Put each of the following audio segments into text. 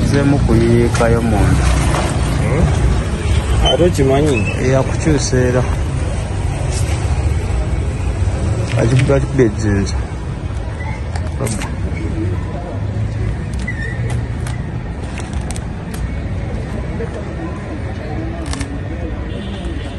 nzemu kuyiikayo munda ate okimanyi eyakukyusa era akikuba akikuba ejinja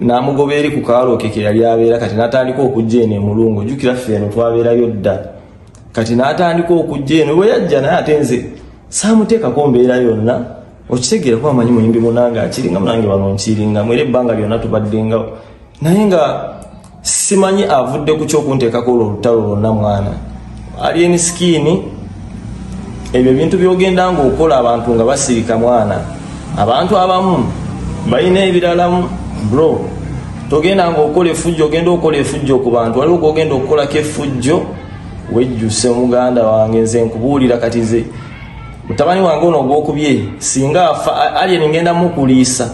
n'amugoba eri ku kaalo ke ke yali abeera kati n'atandika okujja eno emulungu jjukira ffe eno twabeerayo dda kati n'atandika okujja eno bwe yajja naye ate nze saamuteekako mbeera yonna okitegeera kuba amanyi muyimbi munange akiringa munange wano nkiringa mu era ebbanga lyonna tubaddengawo naye nga simanyi avudde ku kyokunteekako olwo olutalo lwonna mwana alien skin ebyo ebintu byogenda nga okola abantu nga basirika mwana abantu abamu balina ebiralamu bro togenda nga okola efujjo ogenda okola efujjo ku bantu waliwo gogenda okukolako efujjo wejjuse omuganda wange nze nkubuulira kati ze mutabani wange ono ogwokubye singa afa alien ngenda mukuliisa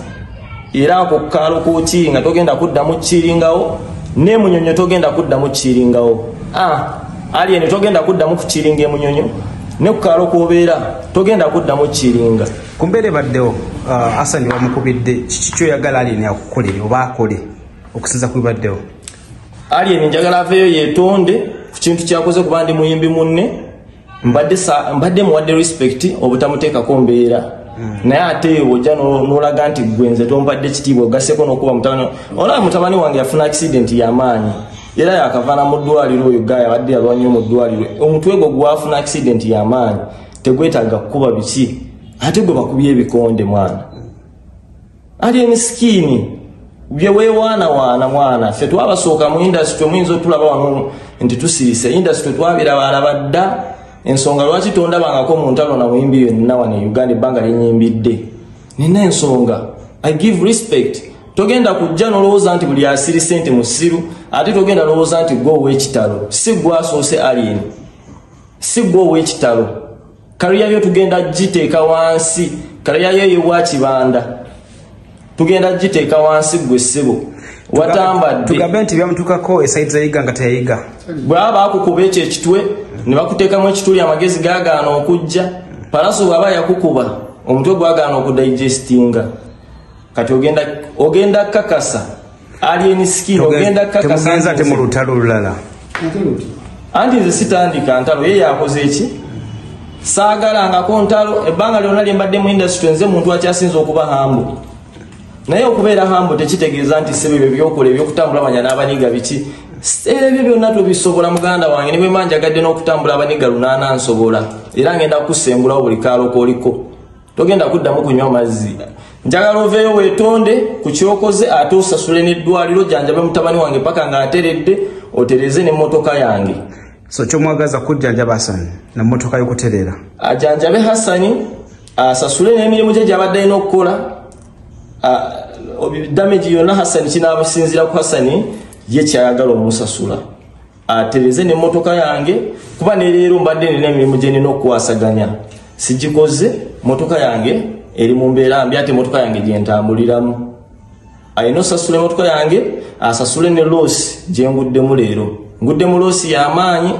era ako kukaalo kukii nga togenda kuddamu kukiringawo ne munyonyo togenda kuddamu kukiringawo ah, ali eno togenda kuddamu kukiringa emunyonyo ne kukaalo kuobeera togenda kuddamu kukiringa ku mbeera ebaddewo ah, asani wamukubidde kiki kyoyagala alieni akukolere oba akole okusinza ku bibaddewo alieni njagala aveeyo yetonde ku kintu kyakoze kuba ndi muyimbi munne mbadde mbadde muwadde respect obutamuteekako mbeera hmm. naye ate ojja nolaga nti gwe nze tompadde kitiibwa ogaseko nokuba mutabani olaba mutabani wange yafuna accident yamaanyi era yakavana mu ddwaliro oyo gaya abadde yalwa nnyo mu ddwaliro omutwe gwo gwafuna accident yamaanyi tegwetaaga kukuba biki ate gwe bakubye ebikonde mwana ali emisikiini byewewaanawaana mwana ffe twabasooka mu indasitry muyinza otulaba wano nti tusirise indasitry twabiraba alaba dda ensonga lwaki tondabangako mu ntalo na muyimbi yonna wano e uganda ebbanga linyimbidde nina ensonga i give respect togenda kujja nolowooza nti buli asiri sente musiru ate togenda lowooza nti gwe owekitalo si gwasoose alien si gwe owekitalo kariya yo tugenda giteeka wansi kariya yo yewa kibanda tugenda giteeka wansi gwe ssebo watambaddetugambe nti byamutukako esaidi zayiga nga teyayiga bwaba akukuba ekyo ekitwe ne bakuteekamu ekituli amagezi gagaana okujja palaso bwaba yakukuba omutwe gwagaana okudigestinga kati ogenda kakasa alien skin ogenda kakasa te mu lutalo lulala anti nze sitandika ntalo ye yakoze eki saagalangako ntalo ebbanga lyona lyembadde mu industry nze muntu akyasinza okuba hambo naye okubeera hambo tekitegeeza nti sebe ebyo byokola ebyokutambula manya n'abaniga biki era ebyo byonna tubisobola muganda wange ne bwemba njagadde n'okutambula abaniga lunaana nsobola era ngenda kukusengulawo buli kaalo kooliko togenda kuddamu kunywa mazzi njagala oveeyo weetonde ku kyokoze ate osasule n'eddwaliro janjabe mutabani wange paka ng'ateredde otereze n'emmotoka yange so kyomwagaza kujjanjaba hasani namotoka yokuterera ajanjabe hasani asasule nemirimu gye gyabadde alina okukola damage yonna hasani kinabasinzira ku hasani ye kyayagala omusasula atereze nemotoka yange kuba neleero mbadde nina emirimu gyenina okukwasaganya sigikoze motoka yange eri mu mbeera mbi ate emotoka yange gyentambuliramu alina osasula emotoka yange asasule ne loosi gyenguddemu leero nguddemu loosi yamaanyi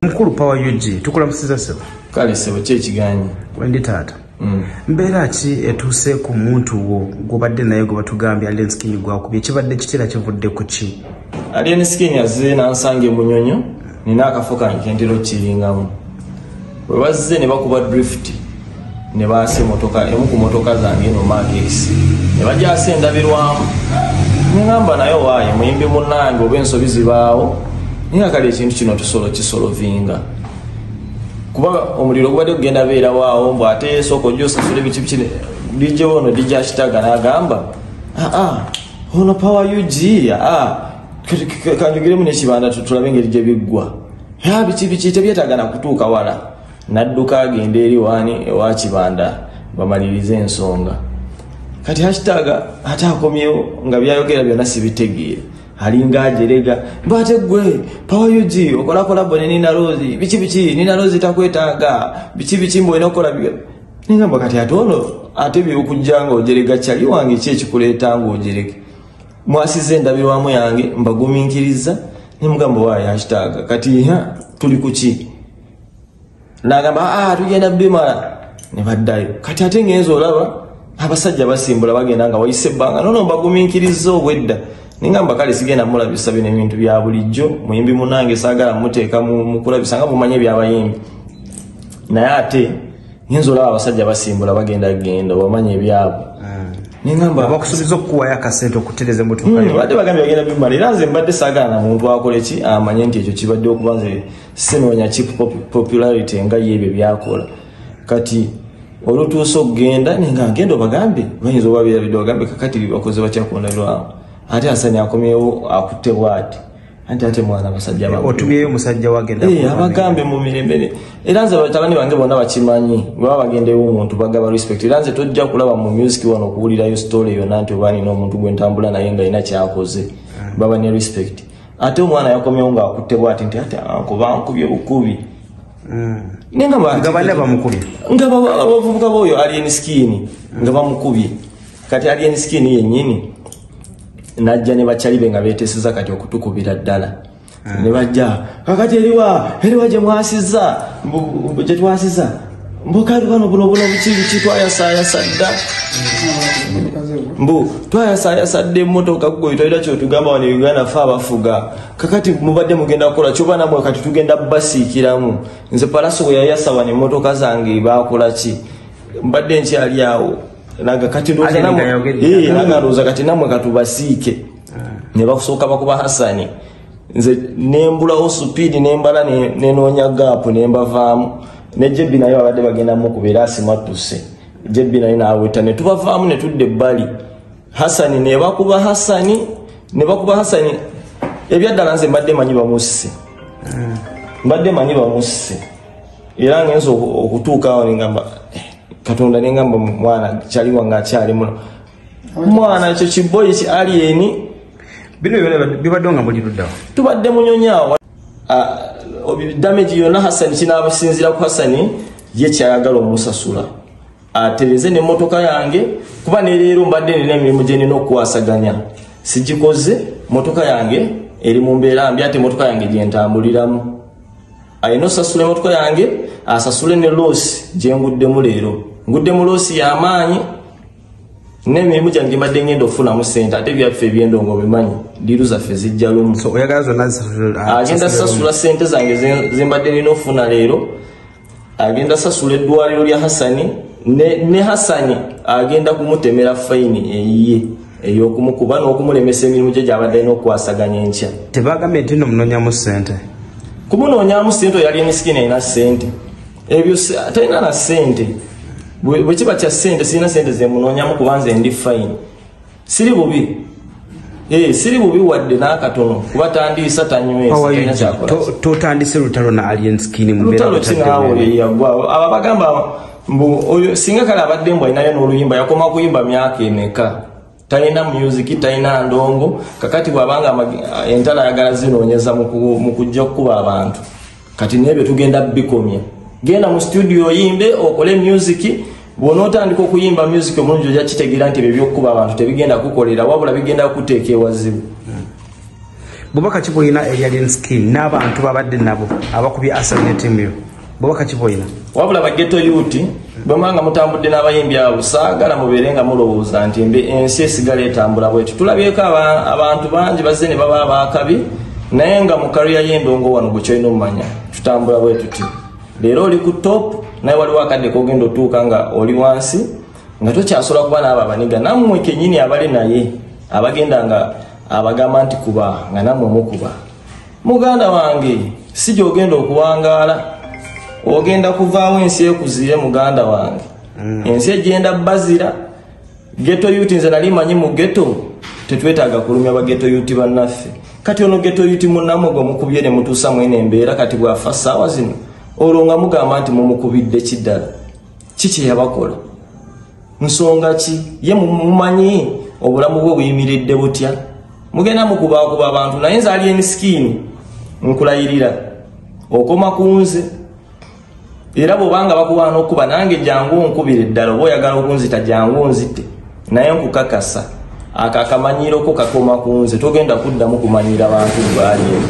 mukulu power ug tukulamusiza sebo kale sebo ki ekiganyi wendi taata mm. mbeera ki etuuse ku muntu wo gwobadde naye gwe batugambye alien skin gwakubye kibadde kitera kivudde ku ki alien skin azze nansanga emunyonyo nina akafo kange kentera okukiringamu webazze ne bakuba drift ne baasa emotoka emu ku motoka zange eno makesi ne bagyasa endabirwamu neŋamba naye owaaye muyimbi munange oba ensobi zibaawo naye nga kale ekintu kino tusolo kisolovinga kuba omuliro gubadde kugenda beerawaawo mbu ate esooka ojja osasula ebikipiki dj ono dj akitaga nagamba aa ah, ah, ono power ug aa ah, kanjogiremu nekibanda tutulabe engeri gye biggwa ya biki biki tebyetaaga na kutuuka wala nadduka agenda eri wani ewa kibanda bamalirize ensonga kati hakitaaga ate akomyewo nga byayogera byonna sibitegeere alinga ajerega bate gwe pawa ug okolakola bone nina rozi biki biki nina rozi takwetaaga biki biki mbu olina okukola byo ningamba kati ate ono ate byokujja nga ojerega kyali wange ki ekikuleeta nga ojerege mwasiza endabirwamu yange mbaguminkiriza nemugamba waayo akitaaga kati tuli kuki nagamba aa ah, tugenda bimala ne baddayo kati ate ngenza olaba abasajja basimbula bagenda nga wayise ebbanga nono mbaguminkiriza obwedda ningamba kale sigenda mulabisa bino ebintu bya bulijjo muyimbi munange saagala muteeka mukulabisa nga mumanye ebyabayimbi naye ate nyinza olaba abasajja basimbula bagenda genda obamanya ebyabwe bakusubiza okukuwayo akasente okutereza emotokabadde hmm, bagambye bagenda bimala era nze mbadde sagala na muntu akole ki amanye nti ekyo kibadde okuba nze sinoonya ki popularity nga ye ebyo byakola kati olutuusa okugenda nenga agenda obagambye bayinza obabeerabidde bagambye kakati bakoze bakyakundalwawo ate asani akomyewo akutte bwati anti ate mwana abasajja eh, otubyeyo omusajja wagenda eh, abagambe mu mirembe era nze batabani bange bonna bakimanyi baba bagendeyo omuntu bagaba respect era nze tojja kulaba mu music wano okuwulirayo story yona nti oba nina omuntu gwe ntambula naye nga ina kyakoze ah. baba ne respect ate omwana yakomyewo nga akutte bwati nti ate anko bankubye bukubi hmm. ngabavubuka boyo alien skin nga bamukubye kati alien skin yenyini najja ne bakyalibe nga beteseza kati okutukubira ddala ah. ne bajja kakati eriwa eriwa gye mwasiza gye twasiza mbukali bano buno buno bukibiki twayasayasa dda mbu twayasayasa dda emotoka gwe tolina kyotugamba wano uganda fe abafuga kakati mubadde mugenda kukola kyoba namwe kati tugenda basiikiramu nze palaso bwe yayasa wano emotoka zange bakolaki mbadde nkyali awo naga kati ndoza Ate namwe ninga yogedde. eh naga ndoza kati namwe katubasiike ne bakusooka bakuba Hasani nze nembulawo supidi nembala ne- nenoonya gaapu nembavaamu ne jebbi naye babadde bagenda mukubera asimattuse jebbi naye naaweta ne tubavaamu ne tudda ebbali hasani ne bakuba hasani ne bakuba hasani ebyaddala nze mbadde manyi bamusse mbadde manyi bamusse era ngenza okutuukawo nengamba eh, katonda nengamba mwana kyaliwa nga akyali muno mwana ekyo kiboyi ki alieni bino bibadde nga muli luddawo tubadde munyonyawo ah, damage yonna hasani kinabasinzira ku hasani ye kyayagala omusasula atereze nemotoka yange kuba neleero mbadde nina emirimu gyenina okukwasaganya sigikoze motoka yange eri mu mbeera mbi ate motoka yange gyentambuliramu alina osasula emotoko yange asasule ne loosi gyenguddemu leero ngudde mu loosi yamaanyi nemirimu gyange gyembadde ngenda okufunamu sente ate byaffe ebyendongo bimanyi diru zaffe zijja lumu ah, agenda sasula sente zange zembadde nina okufuna leero agenda sasula eddwaliro lya hasani ne hasani agenda kumutemera fayini eyiye ey'okumukuba n'okumulemesa emirimu gye gy'abadde alina okukwasaganya enkya tebagambye nti no munoonyamu ssente kumunoonyamu ssente oyali emisikini erina ssente ebyo talina na ssente bwe kiba kya ssente sirina ssente zemunoonyamu kuba nze ndi fayini siri bubi Eh, siri bubi wadde n'akatono kuba tandiisa tanywesatandise lutalo na alien skin lutalo kinaawo yeyagwawo abo abagamba mbu oyo singa kale abadde mbu alinayo n'oluyimba yakoma kuyimba myaka emeka talina musiki talina ndongo kakati bwabanga entalo ayagala zinoonyeza mu kujja okukuba abantu kati nebyo tugenda bikomya genda mu studio oyimbe okole musiki bwona otandika okuyimba musiki omulungi ojja kitegeera nti ebyo byokukuba abantu tebigenda kukolera wabula bigenda kuteeka ewazibu bubaka kibulina eyalinski n'abantu babadde nabo abakubye asanetimuyo bwebakakiboyina wabula bageto yuti bwemwanga mutambudde n'abayimbi abo saagala mubeere nga mulowooza nti mbe ensi esigala etambula bwetyo tulabyeko abantu bangi bazze ne baba abaakabi naye nga mu kariya y'endongo wano gwe kyolina omumanya tutambula bwe tuti leero oli ku top naye waliwo akadde kogenda otuuka nga oli wansi nga tokyasobola kuba naabo abaniga nammwe kenyini abali naye abagenda nga abagamba nti kuba nga nammwe mukuba muganda wange si gyogenda okuwangaala ogenda kuvaawo ensi ekuzire muganda wange mm. ensi egenda bazira geto yuti nze nali manyi mu geto tetwetaaga kulumya bageto yuti bannaffe kati ono geto yuti munamogo mukubye ne mutuusa mwene embeera kati bwafa ssaawa zino olwo nga mugamba nti mumukubidde kiddala kiki yabakola nsonga ki ye mumanyi obulamu bwe buyimiridde butya mugenda mukubakuba abantu naye nze ali emisikiini nkulayirira okoma ku nze era bwobanga bakuwaana okukuba nange jangu onkubira eddala oba oyagala okunzita jangu onzite naye nkukakasa ako akamanyiiroko kakoma ku nze togenda kuddamu kumanyira bantu bwaliemu